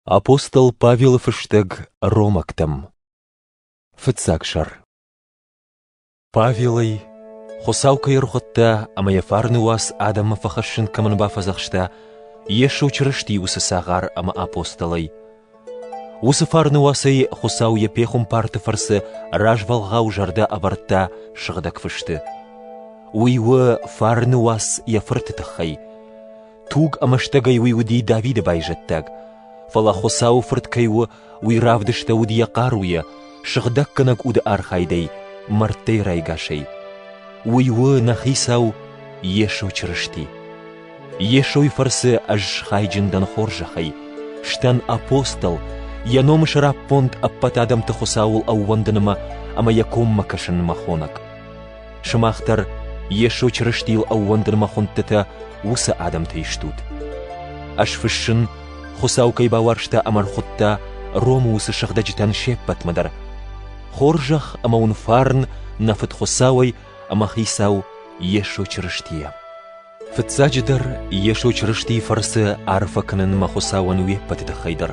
Апостол Павелы фыстӕг ромӕгтӕм Фыццаг сӕр Павелӕй Хуыцау кӕй ӕрхуыдта ӕмӕ йӕ фарны уац адӕммӕ фӕхӕссын кӕмӕн бафӕдзӕхста, Йесо Чырысти уыцы цагъар ӕмӕ апостолӕй. Уыцы фарны уацӕй Хуыцау йӕ пехуымпарты фӕрцы развӕлгъау зӕрдӕ ӕвӕрдта сыгъдӕг фысты. Уый у фарны уац йӕ Фырты тыххӕй. Туг ӕмӕ стӕгӕй уый уыди Давиды байзӕддаг, фӕлӕ Хуыцауы Фырт кӕй у, уый равдыстӕуыд йӕ хъаруйӕ, сыгъдӕггӕнӕг уды архайдӕй, мӕрдтӕй райгасӕй. Уый у нӕ Хицау Йесо Чырысти. Йесойы фӕрцы ӕз схайджын дӕн хорзӕхӕй, стӕн апостол, йӕ номы сӕраппонд ӕппӕт адӕмты Хуыцауыл ӕууӕндынмӕ ӕмӕ йӕ коммӕ кӕсынмӕ хонӕг. Сымах дӕр Йесо Чырыстийыл ӕууӕндынмӕ хуындтытӕ уыцы адӕмтӕй стут. Ӕз фыссын, Хуыцау кӕй бауарзта ӕмӕ ӕрхуыдта Ромы уыцы сыгъдӕджытӕн се ппӕтмӕ дӕр. Хорзӕх ӕмӕ уын фарн нӕ Фыд Хуыцауӕй ӕмӕ Хицау Йесо Чырыстийӕ. Фыццаджыдӕр, Йесо Чырыстийы фӕрцы арфӕ кӕнынмӕ Хуыцауӕн уе ппӕты тыххӕй дӕр,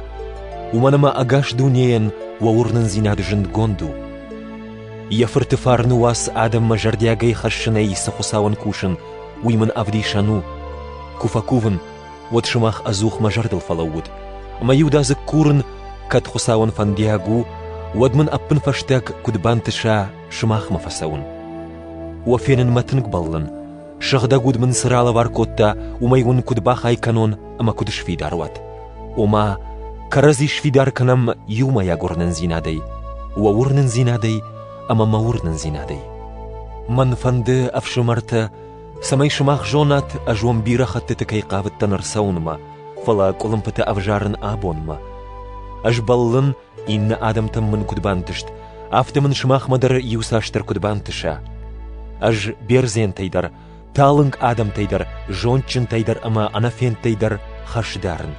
уымӕн ӕмӕ ӕгас дунейӕн уӕ уырнындзинад зындгонд у. Йӕ Фырты фарны уац адӕммӕ зӕрдиагӕй хӕссынӕй цы Хуыцауӕн кусын, уый мын ӕвдисӕн у. Куы фӕкувын, уӕд сымах ӕдзух мӕ зӕрдыл фӕлӕууут, ӕмӕ иудадзыг курын, кӕд Хуыцауӕн фӕндиаг у, уӕд мын ӕппынфӕстаг куыд бантыса сымахмӕ фӕцӕуын. Уӕ фенынмӕ тынг бӕллын, Сыгъдӕг уд мын цы ралӕвар кодта, уымӕй уын куыд бахай кӕнон ӕмӕ куыд сфидар уат. Ома, кӕрӕдзи сфидар кӕнӕм иумӕйаг уырнындзинадӕй, уӕ уырнындзинадӕй ӕмӕ мӕ уырнындзинадӕй. Мӕн фӕнды, ӕфсымӕртӕ, цӕмӕй сымах зонат, ӕз уӕм бирӕ хӕттыты кӕй хъавыдтӕн ӕрцӕуынмӕ, фӕлӕ къуылымпытӕ ӕвзарын абонмӕ. Ӕз бӕллын, Иннӕ адӕмтӕм мын куыд бантыст, афтӕ мын сымахмӕ дӕр иуцасдӕр куыд бантыса. Ӕз бердзентӕй дӕр, талынг адӕмтӕй дӕр, зондджынтӕй дӕр ӕмӕ ӕнӕфендтӕй дӕр хӕс дарын.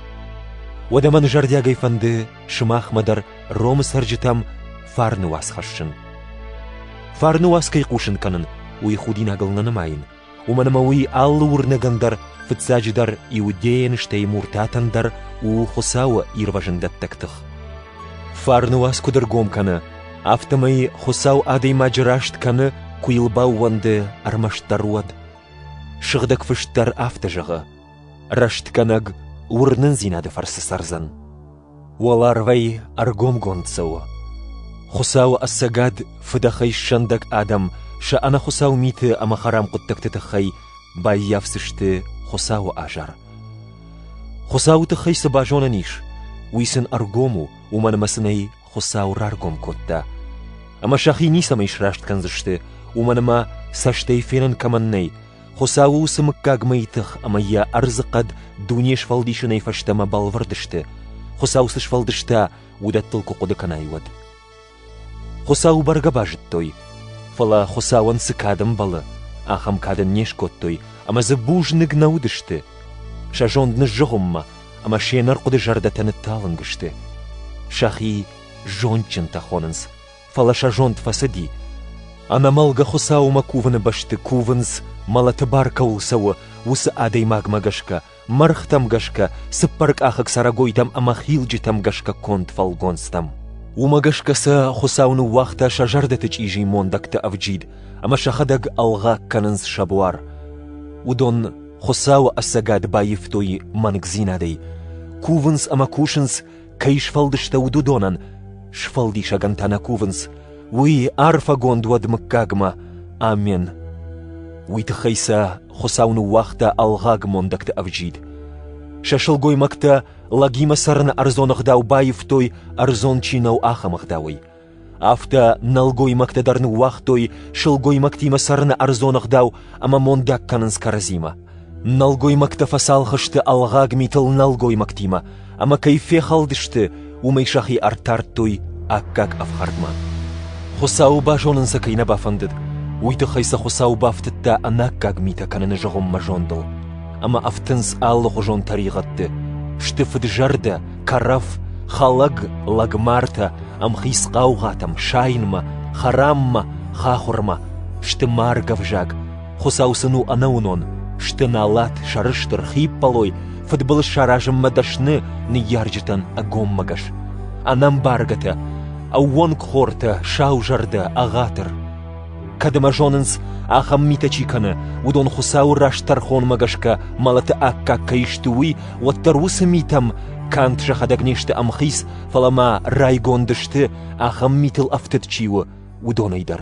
Уӕдӕ мӕн зӕрдиагӕй фӕнды сымахмӕ дӕр Ромы цӕрджытӕм фарны уац хӕссын. Фарны уац кӕй хъусын кӕнын, уый худинагыл нӕ нымайын, уымӕн ӕмӕ уый алы уырнӕгӕн дӕр, фыццаджыдӕр иудейӕн, стӕй муртатӕн дӕр у Хуыцауы ирвӕзӕндӕттӕг тых. Фарны уац куыд ӕргом кӕны, афтӕмӕй Хуыцау адӕймаджы раст кӕны, куы йыл баууӕнды ӕрмӕстдӕр уӕд. Сыгъдӕг Фыст дӕр афтӕ зӕгъы: Рӕстгӕнӕг уырнындзинады фӕрцы цӕрдзӕн. Уӕларвӕй ӕргомгонд цӕуы. Хуыцауы ӕцӕгад фыдӕхӕй ссӕндӕг адӕм сӕ ӕнӕхуыцау миты ӕмӕ хӕрам хъуыддӕгты тыххӕй баййафдзысты Хуыцауы азар. Хуыцауы тыххӕй цы базонӕн ис, уый сын ӕргом у, уымӕн ӕмӕ сын ӕй Хуыцау раргом кодта. Ӕмӕ сӕхи ницӕмӕй сраст кӕндзысты, уымӕн ӕмӕ цӕстӕй фенӕн кӕмӕн нӕй, Хуыцауы уыцы мыггаг мӕйы тых ӕмӕ йӕ ӕрдзы хъӕд дуне сфӕлдисынӕй фӕстӕмӕ бӕлвырд сты, Хуыцау цы сфӕлдыста, уыдӕттыл куы хъуыды кӕнай, уӕд. Хуыцау бӕргӕ базыдтой, фӕлӕ Хуыцауӕн цы кад ӕмбӕлы, ахӕм кад ын не скодтой, ӕмӕ дзы бузныг нӕ уыдысты. Сӕ зонд ныззыгъуыммӕ, ӕмӕ се нӕрхъуыды зӕрдӕтӕ нытталынг сты. Сӕхи зондджынтӕ хонынц, фӕлӕ сӕ зонд фӕцыди. Ӕнӕмӕлгӕ Хуыцаумӕ кувыны бӕсты кувынц, мӕлӕты бар кӕуыл цӕуы, уыцы адӕймагмӕ гӕсгӕ, мӕргътӕм гӕсгӕ, цыппӕркъахыг цӕрӕгойтӕм ӕмӕ хилджытӕм гӕсгӕ конд фӕлгонцтӕм. Уымӕ гӕсгӕ сӕ Хуыцау ныууагъта сӕ зӕрдӕты чъизи мондӕгты ӕвджид ӕмӕ сӕхӕдӕг ӕлгъаг кӕнынц сӕ буар. Уыдон Хуыцауы ӕцӕгад баивтой мӕнгдзинадӕй, кувынц ӕмӕ кусынц кӕй сфӕлдыстӕуыд, уыдонӕн сфӕлдисӕгӕн та нӕ кувынц, уый арфӕгонд уӕд мыггагмӕ. Амен. Уый тыххӕй сӕ Хуыцау ныууагъта ӕлгъаг мондӕгты ӕвджид. Сӕ сылгоймӕгтӕ лӕгимӕ цӕрыны ӕрдзон ӕгъдау баивтой, ӕрдзон чи нӕу, ахӕм ӕгъдауӕй. Афтӕ нӕлгоймӕгтӕ дӕр ныууагътой сылгоймӕгтимӕ цӕрыны ӕрдзоныгъдау ӕмӕ мондаг кӕнынц кӕрӕдзимӕ. Нӕлгоймӕгтӕ фӕцалхысты ӕлгъаг митыл нӕлгоймӕгтимӕ, ӕмӕ кӕй фехӕлдысты, уымӕй сӕхи ӕртардтой аккаг ӕфхӕрдмӕ. Хуыцауы базонын сӕ кӕй нӕ бафӕндыд, уый тыххӕй сӕ Хуыцау бафтыдта ӕнаккаг митӕ кӕныны зыгъуыммӕ зондыл, ӕмӕ ӕфтынц алыхуызон тӕригъӕдты, сты фыд-зӕрдӕ кӕрӕф, хӕлӕг, лӕгмартӕ, ӕмхиц хъаугъатӕм, сайынмӕ, хӕраммӕ, хахуырмӕ, сты марг ӕвзаг, Хуыцау сын у ӕнӕуынон, сты налат, сӕрыстыр, хиппӕлой, фыдбылыз саразынмӕ дӕсны ныййарджытӕн ӕгоммӕгӕс. Ӕнӕмбаргӕтӕ, ӕууӕнкхортӕ, саузӕрдӕ, ӕгъатыр. Кӕд ӕмӕ зонынц, ахӕм митӕ чи кӕны, уыдон Хуыцауы раст тӕрхонмӕ гӕсгӕ мӕлӕты аккаг кӕй сты, уый, уӕддӕр уыцы митӕм канд сӕхӕдӕг не сты ӕмхиц, фӕлӕ ма райгонд сты, ахӕм митыл ӕфтыд чи у, уыдонӕй дӕр.